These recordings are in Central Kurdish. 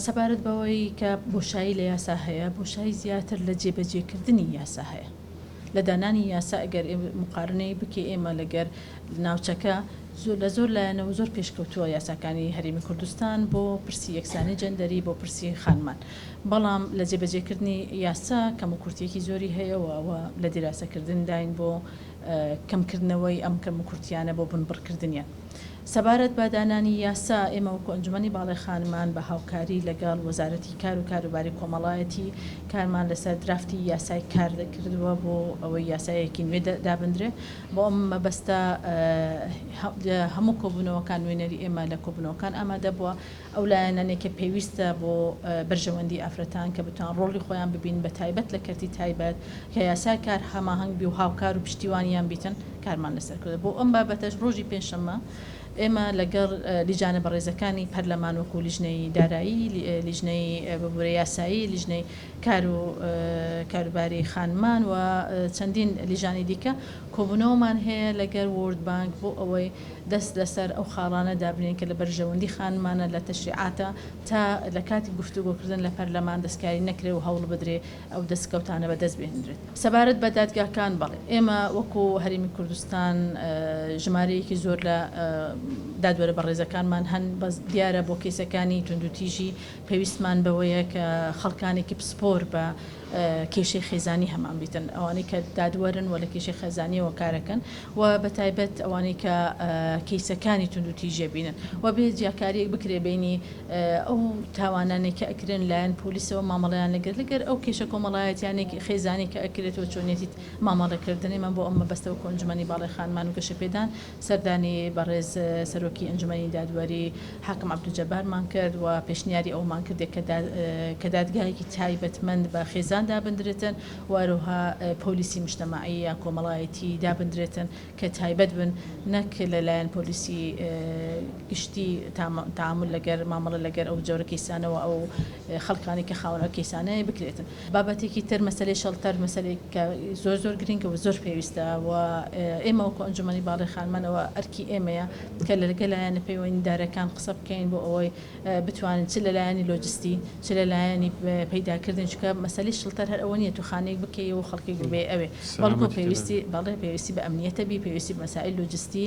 سەبارەت بەوەی کە بۆشایی لە یاسا هەیە، بۆشایی زیاتر لە جێبەجێکردنی یاسا هەیە. لە دانانی یاسا ئەگەر موقارنەی بکەی ئێمە لەگەر ناوچەکە زۆر لە زۆر لایەنەوە زۆر پێشکەوتووە یاساکانی هەرێمی کوردستان بۆ پرسی یەکسانی جەندەری بۆ پرسی خانمان بەڵام لە جێبەجێکردنی یاسا کەم و کورتیەکی زۆری هەیە و ئەوە لە دیراسەکردنداین بۆ کەمکردنەوەی ئەم کەم و کورتیانە بۆ بنبڕکردنیان. سەبارەت بە دانانی یاسا، ئێمە وەکو ئەنجومەنی باڵای خانمان بە هاوکاری لەگەڵ وەزارەتی کار و کاروباری کۆمەڵایەتی کارمان لەسەر درافتی یاسای کار کردووە بۆ ئەوەی یاسایەکی نوێ دابندرێت بۆ ئەم مەبەستە لە هەموو کۆبوونەوەکان نوێنەری ئێمە لە کۆبوونەوەکان ئامادەبووە. ئەو لایەنانەی کە پێویستە بۆ بەرژەوەندی ئافرەتان کە بتوان ڕۆڵی خۆیان ببینن بە تایبەت لە کەرتی تایبەت کە یاسای کار هەماهەنگ بی و هاوکار و پشتیوانیان بیتن کارمان لەسەر کردوە بۆ ئەم بابەتەش ڕۆژی پێنجشەممە ئێمە لەگەڵ لیجانە بەڕێزەکانی پەرلەمان وەکو لیژنەی دارایی لیژنەی ببورە یاسایی لیژنەی کار و کاروباری خانمان و چەندین لیژانی دیکە کۆبونەوەمان هەیە لەگەر وۆرد بانک بۆ ئەوەی دەست لەسەر ئەو خاڵانە دابنێین کە لە بەرژەوەندی خانمانە لە تەشریعاتە تا لە کاتی گفتوگۆکردن لە پەرلەمان دەستکاری نەکرێ و هەوڵ بدرێ ئەو دەسکەوتانە بەدەست بهێنرێت. سەبارەت بە دادگاکان، بەڵێ ئێمە وەکو هەرێمی کوردستان ژمارەیەکی زۆر لە دادوەرە بەڕێزەکانمان هەن، بەس دیارە بۆ کەیسەکانی توندوتیژی پێویستمان بەوەیە کە خەڵکانێکی پسپۆر بە کێشەی خێزانی هەمان بیتن ئەوانەی کە دادوەرن و لە کێشەی خێزانیەوە کارەکەن و بە تایبەت ئەوانەی کە کەیسەکانی توندو تیژێ بینن و بێ جیاکاریەک بکرێ بینی ئەو تاوانانێک کە ئەکرێن لایەن پۆلیسەوە مامەڵیان لەگەر لەگەر ئەو کێشە کۆمەڵایەتیانێک خێزانی کە ئەکرێتەوە چۆنێتیت مامەڵەکردنی من بۆ ئەمە بەستەوە کۆنجمەنی باڵی خانمان و گەشەپێدان سەردانی بەڕێز سەرۆکی ئەنجومەنی دادوەری حاکم عەبدولجەبارمان کرد و پێشنیاری ئەوەمان کردێ کە دادگایەکی تایبەتمەند بە خێزان دابندرێتن و هەرەوها پۆلیسی مشتەمەعی یا کۆمەڵایەتی دابندرێتن کە تایبەت بن نەک لە لایەن پۆلیسی گشتی تامل لەگەر مامەڵە لەگەر ئەو جۆرە کەیسانەوە ئەو خەڵکانی کە خاوەن ئەو کەیسانەیە بکرێت بابەتێکی تر مەسەلەی شەڵتەر مەسەلێک کە زۆر زۆر گرنگە و زۆر پێویستە و ئێمە وەکو ئەنجومەنی باڵی خانمانەوە ئەرکی ئێمەیە کە لەرگە لایەنە پەیوەندیدارەکان قسە بکەین بۆ ئەوەی بتوانین چ لە لایەنی لۆجستی چ لە لایەنی پەیداکردن چکە مەسەلی شڵتەر هەر ئەوە نیە تو خانەیەک بکەی و خەڵکێک بێ ئەوێ بەڵکو پێویستی بەڵێ پێویستی بە ئەمنیەتە بی پێویستی مەسائل لۆجستی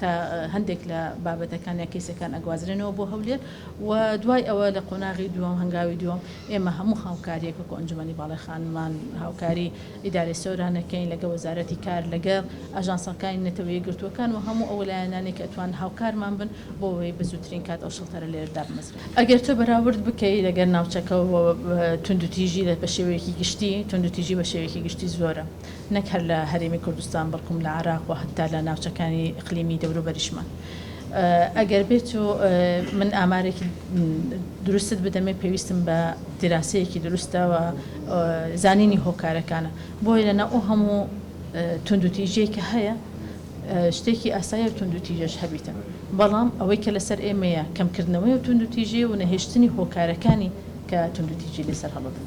تا هەندێک لە بابەتەکان یا کەیسەکان ئەگوازرێنەوە بۆ هەولێر و دوای ئەوە لە قۆناغی دووەم هەنگاوی دووەم ئێمە هەموو هاوکاریەک وەکو ئەنجومەنی باڵای خانمان هاوکاری ئیدارەی سۆرانەکەین لەگە وەزارەتی کار لەگە ئاژانسەکانی نەتەوە یەکگرتووەکان و هەموو ئەو لایەنانەی کە ئەتوان هاوکارمان بن بۆ ئەوەی بە زووترین کات ئەو شڵتەرە لێرە دابمەزرێت. ئەگەر تۆ بەراورد بکەی لەگەر ناوچەکە و توندوتیژی بە شێوەیەکی گشتی توندوتیژی بە شێوەیەکی گشتی زۆرە. نەک هەر لە هەرێمی کوردستان بەڵکوم لە عێراق و هەتا لە ناوچەکانی ئیقلیمی دەوروبەریشمان ئەگەر بێت و من ئامارێکی دروستت بدەمێ پێویستم بە دیراسەیەکی دروستەوە زانینی هۆکارەکانە بۆیە لەنا ئەو هەموو توندوتیژەی کە هەیە شتێکی ئاسایە و توندوتیژەش هەبیتە بەڵام ئەوەی کە لەسەر ئێمەیە کەمکردنەوەی و توندوتیژی و نەهێشتنی هۆکارەکانی کە توندوتیژی لەسەر هەڵبن